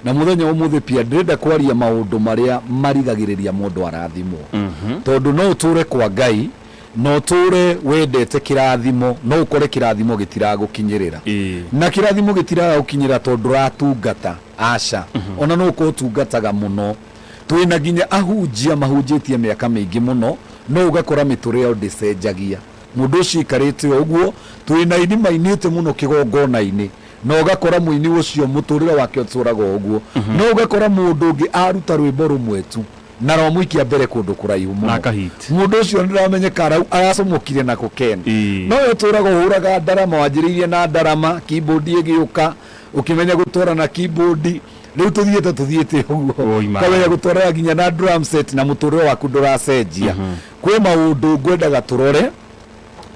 Na mũthenya ũmũthĩ pia ndĩrenda kwaria maũndũ marĩa marigagĩrĩria mũndũ arathimwo. Tondũ no ũtũre kwa Ngai na ũtũre wendete kĩrathimo no ũkore kĩrathimo gĩtiragũkinyĩrĩra. Ĩĩ. Na kĩrathimo gĩtiragũkinyĩrĩra tondũ ndũratungata, aca. Ona no ũkorwo ũtungataga mũno. Twĩna nginya ahunjia mahunjĩtie mĩaka mĩingĩ mũno no ũgakora mĩtũrĩre yao ndĩcenjagia. Mũndũ ũcio aikarĩte o ũguo. Twĩna aini mainĩte mũno kĩgongona-inĩ na ũgakora mũini ũcio mũtũrĩre wake ũtũraga o ũguo no ũgakora mũndũ ũngĩ aruta rwĩmbo rũmwe tu na romũikia mbere kũndũ kũraihu mũno Na akahit. mũndũ ũcio nĩramenyeka arau aracomokire na kokeni Ĩĩ. no we ũtũraga ũhũraga ndarama wanjĩrĩirie na ndarama keyboard ĩgĩũka ũkĩmenya gũtwara na keyboard rĩu tũthiĩte tũthiĩte ũguo Oi, ma. ũkamenya gũtwaraga nginya na drum set na mũtũrĩre waku ndũracenjia kwĩ maũndũ ngwendaga tũrore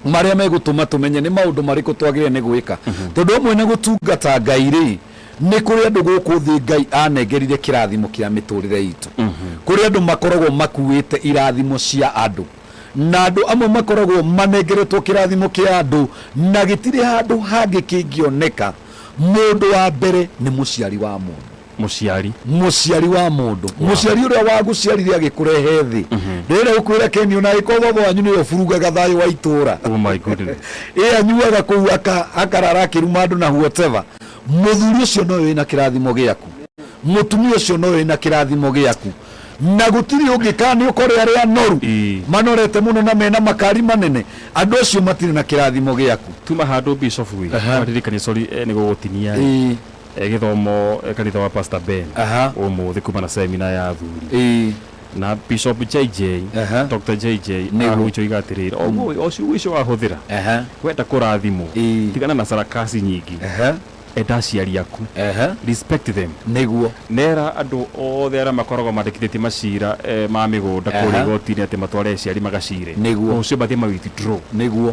marĩa megũtũma tũmenye nĩ maũndũ marĩkũ twagĩrĩire nĩ gwĩka tondũ amwe na gũtungata ngai rĩ nĩ kũrĩ andũ gũkũ thĩ ngai anengerire kĩrathimo kĩa mĩtũrĩre itũ kũrĩ andũ makoragwo makuĩte irathimo cia andũ na andũ amwe makoragwo manengeretwo kĩrathimo kĩa andũ na gĩtirĩ handũ hangĩ kĩngĩoneka mũndũ wa mbere nĩ mũciari wa mũndũ Mũciari. Mũciari wa mũndũ. Wow. Mũciari ũrĩa wagũciarire agĩkũrehe thĩ. Mhm. Ndĩrenda gũkwĩra Keni ona agĩkorwo baba wanyu nĩwe ũburugaga thayũ wa itũũra. Oh my goodness. Ĩ anyuaga kũu aka- akarara akĩruma andũ na whatever. Mũthuri ũcio nowe wĩna kĩrathimo gĩaku. Mũtumia ũcio nowe wĩna kĩrathimo gĩaku. Na gũtirĩ ũngĩ kana nĩ ũkore arĩa anoru Ii. manorete mũno na mena makari manene andũ acio matirĩ na kĩrathimo gĩaku. Tuma handũ Bishop wi. Aha. Ndirikanie sorry eh, nĩ gũgũtinia. Ii. E gĩthomo kanitha wa pastor Ben Aha. ũmũthĩ kuma na seminar ya athuri Ĩĩ. na bishop JJ Aha. Doctor JJ Nĩguo. ahunjia oiga atĩrĩrĩ oguo ũcio ũcio wahũthĩra Aha. wenda kũrathimwo Ĩĩ. tigana na sarakasi nyingi Aha. enda aciari aku Aha. respect them Nĩguo. nera andũ othe arĩa makoragwo mandĩkithĩtie macira eh, ma mĩgũnda Aha. kũrĩa igoti-inĩ atĩ matware aciari magacire Nĩguo. rũciũ mathiĩ ma withdraw Nĩguo.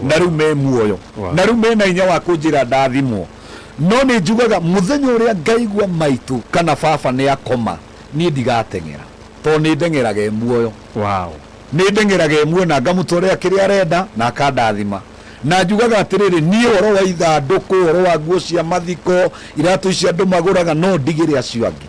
na rĩu me muoyo Wow. na rĩu mena hinya wa kũnjĩra ndathimwo no nĩ njugaga mũthenya ũrĩa ngaigua maitũ kana baba nĩ akoma niĩ ndigateng'era tondũ nĩ ndeng'eraga e muoyo wow nä ndeng'eraga ĩmwe na ngamũtwarĩra kĩrĩa arenda na akandathima na njugaga atĩrĩrĩ niĩ ũhoro wa ithandũkũ ũhoro wa nguo cia mathiko iratũ ici andũ magũraga no ndigĩre acio angĩ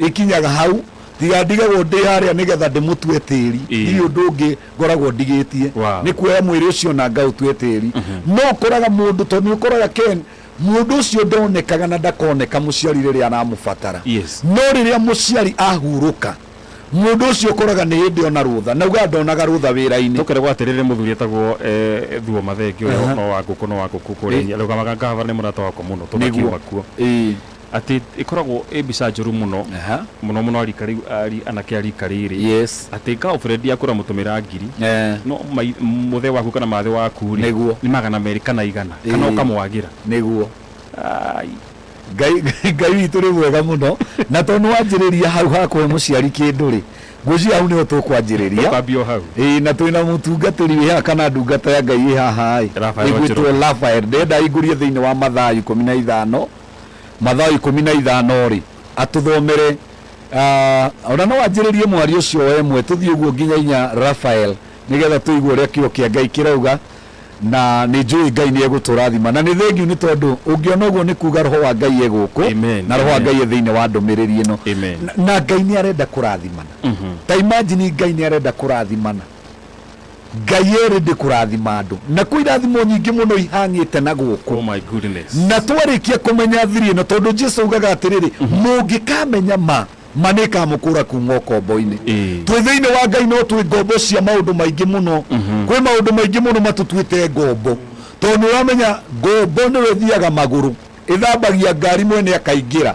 Ĩkinyaga hau, tiga ndigagwo ndĩ harĩa nĩ getha ndĩmũtue tĩri, Ĩĩ. ndirĩ ũndũ ũngĩ ngoragwo ndigĩtie, Wow. nĩ kuoya mwĩrĩ ũcio na ngaũtue tĩri. No ũkoraga mũndũ, tondũ nĩ ũkoraga Ken, mũndũ ũcio ndonekaga na ndakoneka mũciari rĩrĩa aramũbatara. Yes. No rĩrĩa mũciari ahurũka, mũndũ ũcio ũkoraga nĩ hĩndĩ ona rũtha, na ugaga ndonaga rũtha wĩra-inĩ. Tũkeragwo atĩrĩ nĩ mũthuri etagwo eh, Thuo Mathenge ũrĩa Aha. no wa ngũkũ no wa ngũkũ kũrĩa Ĩ. Nyeri. Arũgamaga ngavana nĩ mũrata wakwa mũno tũgakiuma kuo. Ĩĩ. atĩ ĩkoragwo ĩ mbica njũru mũno Aha. mũno mũno arika rĩu ari- anake arika rĩrĩ yes atĩ girlfriend yaku ũramũtũmĩra ngiri eh, no mai- mũthe waku kana mathĩ waku rĩ Nĩguo. nĩ magana merĩ kana igana Ĩĩ. kana ũkamwagĩra nĩguo Ai, ngai ngai witå rä mwega må no na to nä wanjä rä ria hau ha kå he må ciari kä ndå rä ngwä hau nä ho tå kwanjä rä ria ũkambia o hau ä na twä na må tungatä ri wä haha kana ndungata ya ngai ä haha Rafael ä gwä two Wanjĩrũ. rafael ndenda ingå rie thä inä wa mathaa ikå mi na ithano mathaa ikũmi na ithano-rĩ, atũthomere, aah, o na no anjĩrĩrie mwario ũcio o ĩmwe, tũthiĩ ũguo nginya inya Rafael, nĩgetha tũigue ũrĩa Kiugo kĩa Ngai kĩrauga, na nĩ njũĩ Ngai nĩ egũtũrathima. Na nĩ thengiũ nĩ tondũ, ũngĩona ũguo nĩ kuuga Roho wa Ngai e gũkũ, Amen, na Roho wa amen. Ngai e thĩinĩ wa ndũmĩrĩri ĩno. Amen. Na- Na Ngai nĩ arenda kũrathimana. Ta imagine Ngai nĩ arenda kũrathimana. Ngai erĩ ndĩ kũrathima andũ. Nakuo irathimo nyingĩ mũno ihang'ĩte na gũkũ. Oh my goodness. Na twarĩkia kũmenya thiri ĩno, tondũ Jesu augaga atĩrĩrĩ, mũngĩkamenya ma, ma nĩ ĩkamũkũra kuuma ũkombo-inĩ. Ĩ. Twĩ thĩinĩ wa Ngai no twĩ ngombo cia maũndũ maingĩ mũno. Kwĩ maũndũ maingĩ mũno matũtuĩte ngombo. Tondũ nĩ ũramenya ngombo nĩyo ĩthiaga magũrũ, ĩthambagia ngari mwene akaingĩra.